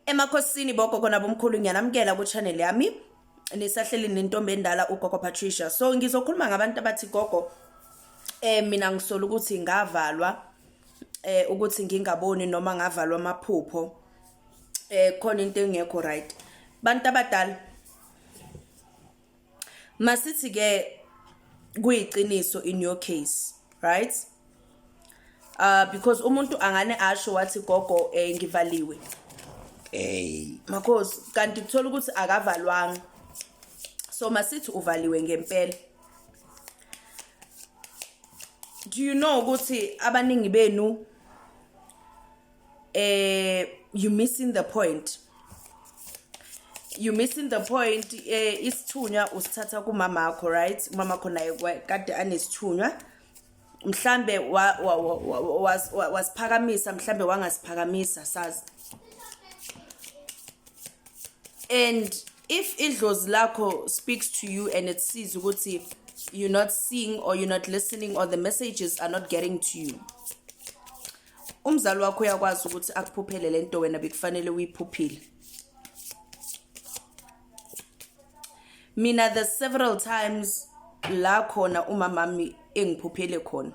Emakhosini boko kona bomkhulu ngiyanamkela ku channel yami nisahleli nentombi endala ugogo Patricia so ngizokhuluma ngabantu abathi gogo eh mina ngisola ukuthi ngavalwa eh ukuthi ngingaboni noma ngavalwa amaphupho eh khona into engekho right bantu abadala masithi ke kuyiqiniso in your case right uh because umuntu angane asho wathi gogo eh ngivaliwe eh makhosi kanti kuthola ukuthi akavalwanga so masithi uvaliwe ngempela do you know ukuthi abaningi benu eh you missing the point you missing the point eh isithunywa usithatha kumama wakho right umama wakho naye kade anesithunywa mhlambe wasiphakamisa mhlambe wangasiphakamisa sazi and if idlozi lakho speaks to you and it sees ukuthi you're not seeing or you're not listening or the messages are not getting to you umzali wakho uyakwazi ukuthi akuphuphele le nto wena bekufanele uyiphuphile mina the several times la khona umamami engiphuphele khona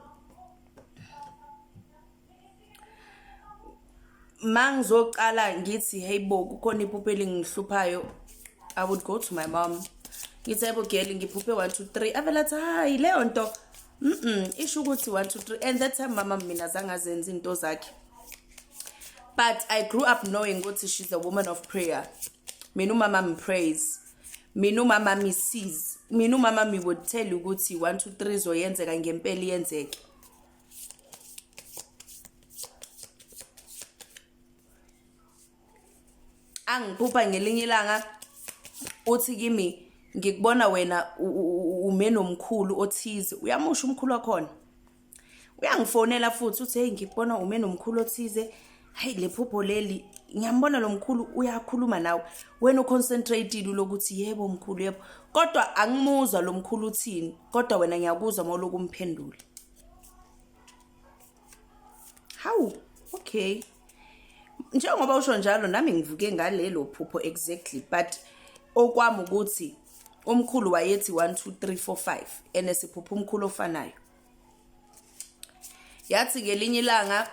mangizoqala ngithi hey bo kukhona iphupho elingihluphayo i would go to my mom ngithi hey bo girl ngiphuphe 1 2 3 avela athi hayi leyo nto Mm-mm, isho ukuthi 1 2 3 and that time mama mina zange azenza into zakhe but i grew up knowing ukuthi she's a woman of prayer mina umama mpraise mina umama misize mina umama mi would tell you ukuthi 1 2 3 zoyenzeka ngempela iyenzeke angiphupha ngelinye ilanga uthi kimi ngikubona wena ume nomkhulu othize uyamusha umkhulu wakhona uyangifonela futhi uthi hey ngikubona ume nomkhulu othize hayi lephupho leli ngiyambona lo mkhulu uyakhuluma nawe wena uconcentratile lokuthi yebo mkhulu yebo kodwa angimuzwa lo mkhulu uthini kodwa wena ngiyakuzwa mawuloku umphendula Hawu, okay. Njengoba usho njalo nami ngivuke ngalelo phupho exactly but okwami ukuthi umkhulu wayethi 1 2 3 4 5 ene siphupha umkhulu ofanayo. Yathi ngelinye ilanga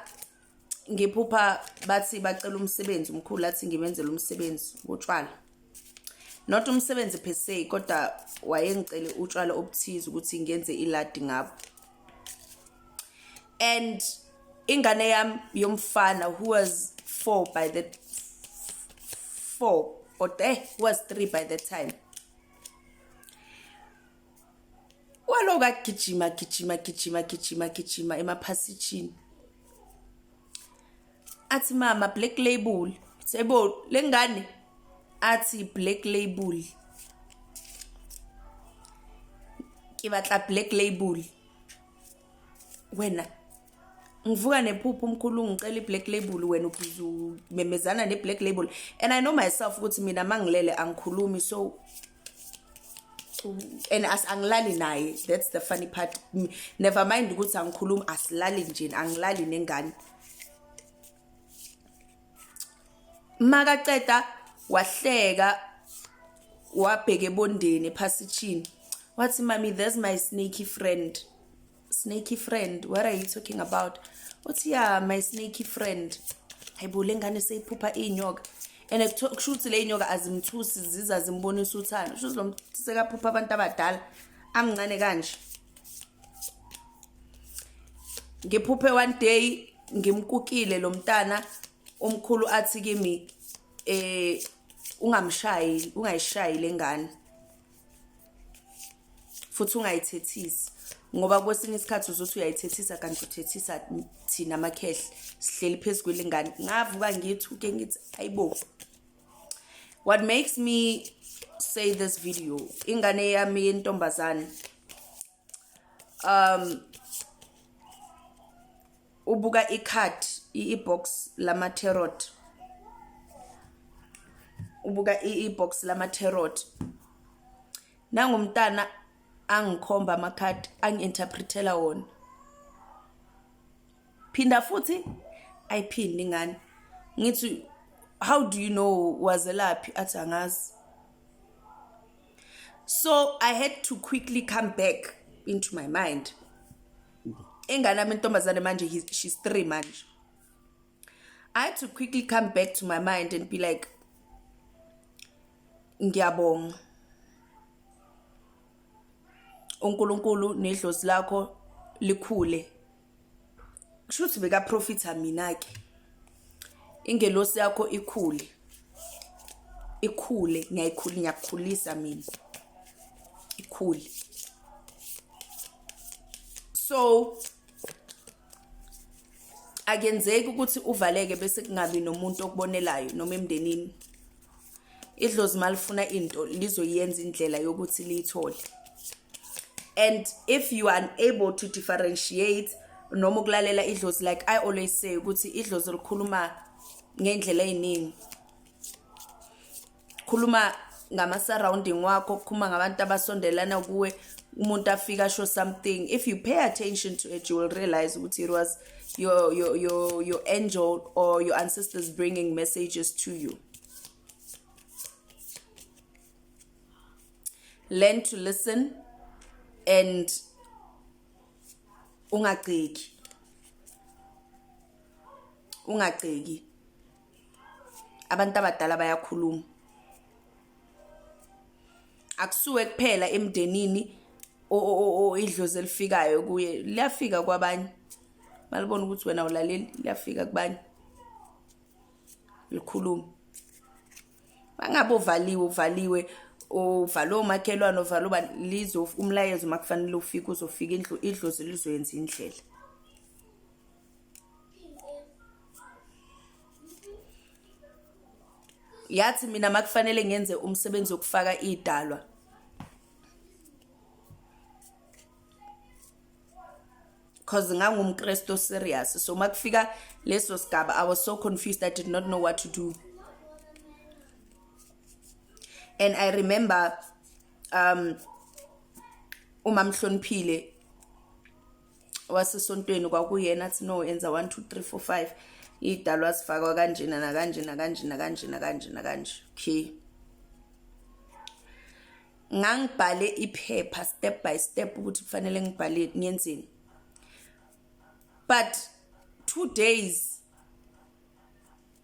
ngiphupha bathi bacela umsebenzi umkhulu athi ngimenzele umsebenzi wotshwala not umsebenzi per se kodwa wayengicele utshwala obuthize ukuthi ngenze iladi ngabo and ingane yami yomfana who was four by the four or eh, who was three by the time waloku agijima gijima gijima gijima gijima emaphasijini athi mama black label sebo lengane athi black label ke batla black label wena ngivuka nephupho umkhulu ngicela i-black label wena ubhizu memezana ne-black label and i know myself ukuthi mina mangilele angikhulumi so and as angilali naye that's the funny part never mind ukuthi angikhulumi asilali nje angilali nengane makaceda wahleka wabheke ebondeni ephasitshini wathi mami there's my sneaky friend snakey friend what are you talking about uthi ya my snakey friend hayibo le ngane seyiphupha iy'nyoka and kusho ukuthi le y'nyoka azimthusi ziza zimbonisa uthando kusho ukuthi lo mntu sekaphupha abantu abadala amncane kanje ngiphuphe one day ngimkukile lo mntana omkhulu athi kimi eh ungamshayi ungayishayi lengane futhi ungayithethisi ngoba kwesinye isikhathi uzothi uyayithethisa kanti uthethisa thina amakhehle sihleli phezu kwelingane ngavuka ngithuke ngithi ayibo what makes me say this video ingane yami yentombazane um ubuka icard ibox lama tarot ubuka ibox lama tarot nangumntana angikhomba ama card angiinterpretela wona phinda futhi ayiphindi ngani ngithi how do you know wazelaphi athi angazi so i had to quickly come back into my mind engane ami intombazane manje she's three manje i had to quickly come back to my mind and be like ngiyabonga uNkulunkulu nedlozi lakho likhule kusho ukuthi bekaprofitha mina-ke ingelosi yakho ikhule ikhule ngiyayikhula ngiyakukhulisa mina ikhule so akenzeki ukuthi uvaleke bese kungabi nomuntu okubonelayo noma emndenini idlozi malifuna into lizoyenza indlela yokuthi liyithole and if you are unable to differentiate noma ukulalela idlozi like i always say ukuthi idlozi likhuluma ngey'ndlela ey'ningi khuluma ngama-surrounding wakho khuluma ngabantu abasondelana kuwe umuntu afike asho something if you pay attention to it you will realize ukuthi it was your, your, your, your angel or your ancestors bringing messages to you learn to listen and ungagceki ungagceki abantu abadala bayakhuluma akusuwe kuphela emndenini idlozi elifikayo kuye liyafika kwabanye malibona ukuthi wena ulaleli liyafika kubanye likhulume bangabe uvaliwe uvaliwe uvale omakhelwane uvale uba lizo umlayezo uma kufanele ufike uzofika indlu idlozi lizoyenza indlela yathi mina makufanele ngenze umsebenzi wokufaka idalwa cause ngangumkristu serious so uma kufika leso sigaba i was so confused i did not know what to do and i remember um uma mhloniphile wasesontweni kwakuyena athi no enza 1 2 3 4 5 idalwa sifakwa kanjena nakanjena kanjena kanjena kanjena kanje okay ngangibhale iphepha step by step ukuthi kufanele ngibhale ngenzeni but two days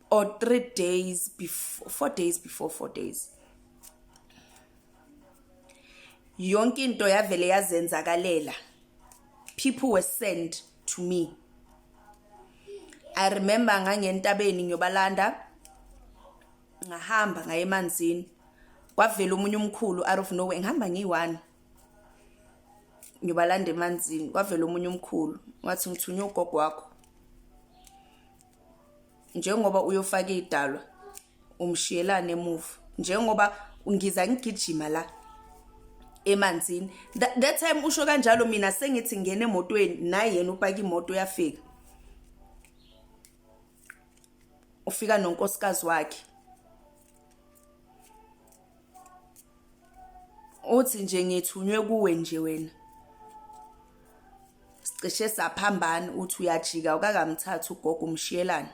or three days before four days before four days yonke into yavele yazenzakalela people were sent to me i remember ngangentabeni ngiyobalanda ngahamba ngaye emanzini kwavela omunye umkhulu out of nowhere ngihamba ngiyi-one ngiyobalanda emanzini kwavela omunye umkhulu wathi ngithunywe ugogo wakho njengoba uyofaka idalwa umshiyelane emuva njengoba ngiza ngigijima la emanzini that time usho kanjalo mina sengithi ngene emotweni naye yena upaka imoto uyafika ufika nonkosikazi wakhe uthi nje ngithunywe kuwe nje wena sicishe saphambana uthi uyajika ukakamthatha ugogo umshiyelana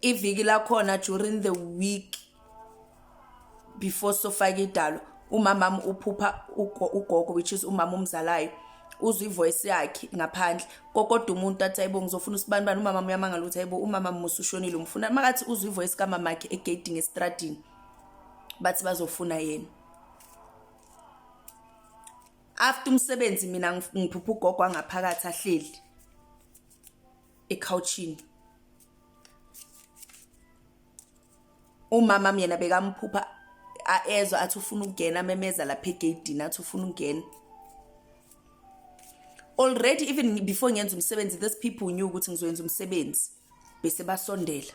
iviki lakhona during the week before sofake idalo umamami uphupha ugogo which is umama omzalayo uzwa ivoice yakhe ngaphandle kokodwa umuntu athi ayibo ngizofuna usibani bani umama uyamangala ukuthi ayibo umama musa ushonile umfuna makathi uzwa ivoice kamama akhe egeding estradini bathi bazofuna yena after umsebenzi mina ngiphupha ugogo angaphakathi ahleli ekhawuchini umama myena bekamphupha aezwa athi ufuna ukungena amemeza lapha egeyidini athi ufuna ukungena already even before ngenza umsebenzi this people knew ukuthi ngizoyenza umsebenzi bese basondela